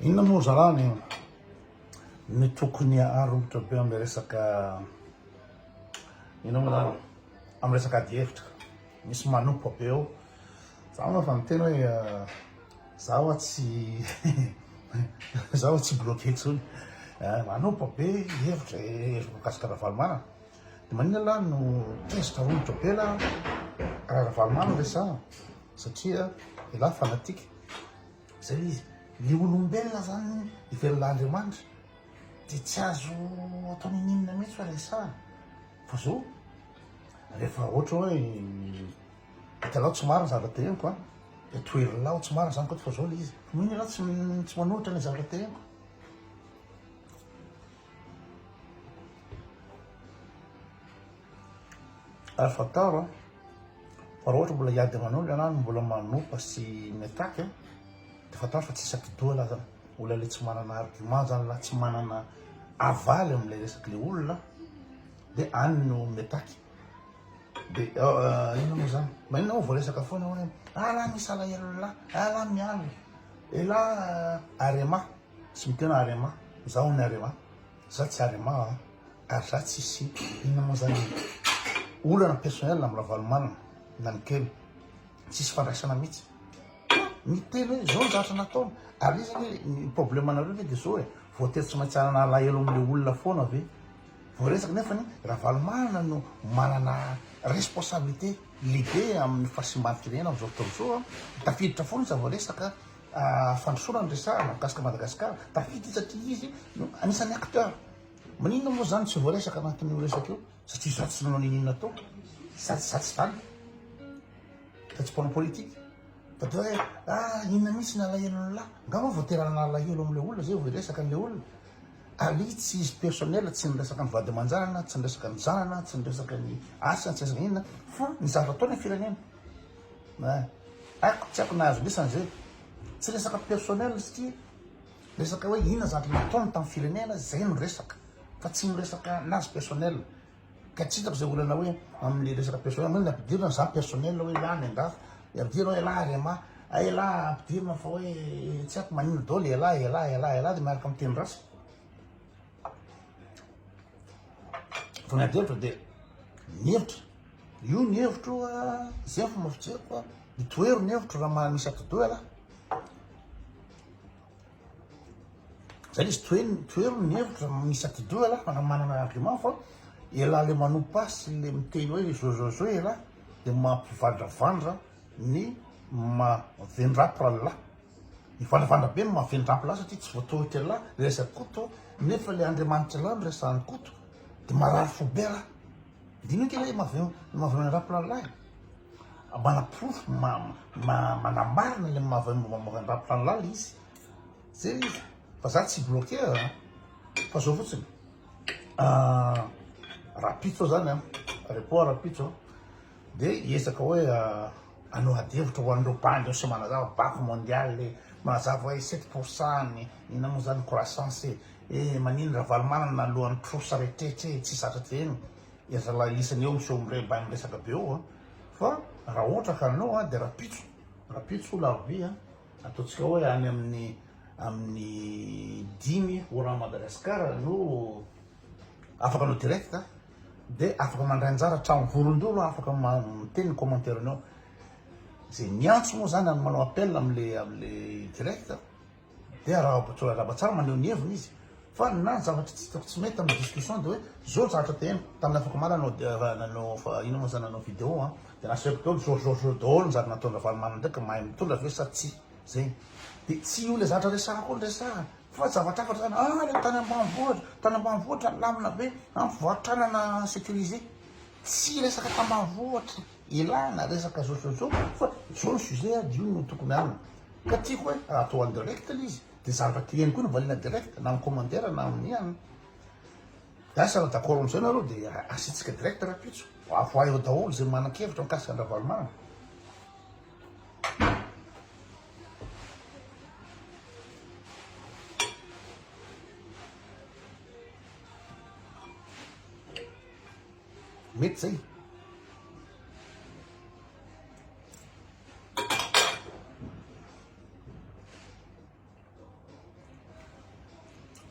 Inona moa zarany ny tokony aromotra be amin'ny resaka inona moa zany amin'ny resaka adihevitra misy manompa be eo za moa efa miteny hoe euh, za oa tsy za oa tsy bloqué intsony eh, manompa be hevitra eh, hevitra mikasika Ravalomanana De manina lah no tezitra romotra be lah raha Ravalomanana resahana satria elah fanatique zay le izy. Le olombelona zany ivelona Andriamanitra de tsy azo atao ninininina mihitsy hoe resahana fa zao rehefa ohatra hoe hitanao tsy marina zavatra teneniko a de toherinao ho tsy marina zany koa fa zao le izy. Mino ianao tsy tsy manolotra le zavatra teneniko. Ary fantaro an, fa raha ohatra mbola hiady aman'ondry ianao no mbola manopa sy mi-attaque an, dia fantaro fa tsy isan-kidoha laza olona ilay tsy manana argument zany na tsy manana avaly amin'ilay resak'ilay olona dia any no mi-attaque. Dia inona moa zany? Maninona moa voaresaka foana hoe ah là misy alahelo là, ah là miala, elah Arema Tsy mitena arema, za ony arema, za tsy arema a, ary za tsy sy inona moa zany e. Olana personnel am ravalomanana na ny kely, tsisy fandraisana mitsy. Miteny hoe zao ny zavatra nataony, ary izy anie ny probleme anareo ve de zao e, voatery tsy maintsy hanana alahelo am le olona foana ve, voaresaka nefany ravalomanana no manana responsabilité lehibe am ny fahasimban firenena am zao fotoana zao a, tafiditra foana izy ra voaresaka. fandrosoana ny resahana mikasika Madagascar tafita izy satria izy no anisany acteur maninona moa zany tsy voaresaka anatin'io resaka io satria za tsy nanao nininona tao za za tsy zany fa tsy mpanao politique fa de hoe ah inona mihitsy ny alahelony lahy nga moa voaterana alahelo amle olona zay vao hiresaka anle olona ali tsy izy personnel tsy niresaka ny vady aman-janana tsy niresaka ny zanana tsy niresaka ny asany tsy niresaka inona fa ny zavatra ataony ny firenena Hein? Haiko tsy haiko nahazo lisany zay. Tsy resaka personnel satria resaka hoe inona zavatra nataony tamin'ny firenena zay no resaka fa tsy miresaka anazy personnel. Ka tsy hitako zay olana hoe amin'ny resaka personnel hoe ny ampidirina za personnel hoe elah ny andafy, ny ampidirina hoe elah rma, a elah ampidirina fa hoe tsy haiko maninona daholo elah elah elah elah dia miaraka amin'ny teny ratsy. Vao miady hevitra dia mihevitra. Io ny hevitro izay fomba fijeriko a. Mitoero ny hevitro raha mahay misy atidoha ialahy. Zany izy toeno toero ny hevitro raha misy atidoha ialahy fa raha manana argument fa ialahy le manompa sy le miteny hoe zozozo ialahy dia mampivandravandra ny mavendrapy rallah. Mivalavalabe ny maha vendram-pilahy satria tsy voatohitra elah le resak'i Koto nefa le Andriamanitra elah no resahan'i Koto de marary fo be rah. Dinika elah i Mavin ny maha vendram-pilalay a. Manaporofo ma ma manamarina le maha vendram-pilalay le izy. Zay le izy fa za tsy bloquer a fa zao fotsiny rahampitso zany a repoa rahampitso a. Dia hiezaka hoe hanao adihevitra ho an'ireo bandy ao sy manazava Banque Mondiale manazava hoe sept pour cent ny inona moa izany croissance e, eh manino Ravalomanana nalohan'ny trosa rehetrrehetra e, tsy zatra teny e, zalahy lisany eo miseho miremba miresaka be eo fa raha ohatra ka hanao dia rapitso, rapitso la vie a, ataontsika hoe any amin'ny amin'ny dimy orange Madagascar no afaka hanao direct a. de afaka mandray anjara hatramin'ny vorondolo afaka miteny ny commentaire nao ze miantso moa zany ary manao appel amle amle direct de arahaba tsara arahaba tsara maneho ny heviny izy fa na ny zavatra tsy hitako tsy mety amin'ny discussion de hoe zao ny zavatra te heno tamin'ny afaka omaly anao de raha nanao fa ino moa zany nanao vidéo a de nasehoko daholo zao zao zao daholo ny zavatra nataon'i Ravalomanana ndraiky mahay mitondra ve sa tsy zegny de tsy io le zavatra resahako io ny resahana Fa zava-tsafatra zany, ah le tany ambanivohitra, tany ambanivohitra milamina be, an mpivarotr'anana sécurisé, tsy resaka tambanivohitra ilana resaka zozozo fa zao ny sujet ady io no tokony aminy ka tiako hoe raha atao en direct le izy de zavatra tiany koa no valiana direct na am commentaire na amin'ny an asa raha d'accord amzay nareo de asiantsika direct rapitso avoahy eo daholo zay manan-kevitra mikasika an-dRavalomanana. Mety zay.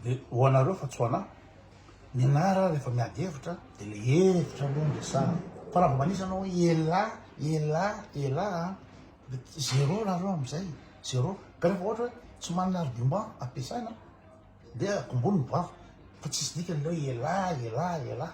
Dia ho anareo fa tsy ho anà. Ny anara rehefa miady hevitra dia le hevitra aloha ny resahana. Fa raha vao manisa anao hoe elà, elà, elà Zero nareo amzay zero ka refa ohatra hoe tsy manana argument ampiasaina de akombony ny vava fa tsisy dikany le hoe elah elah elah.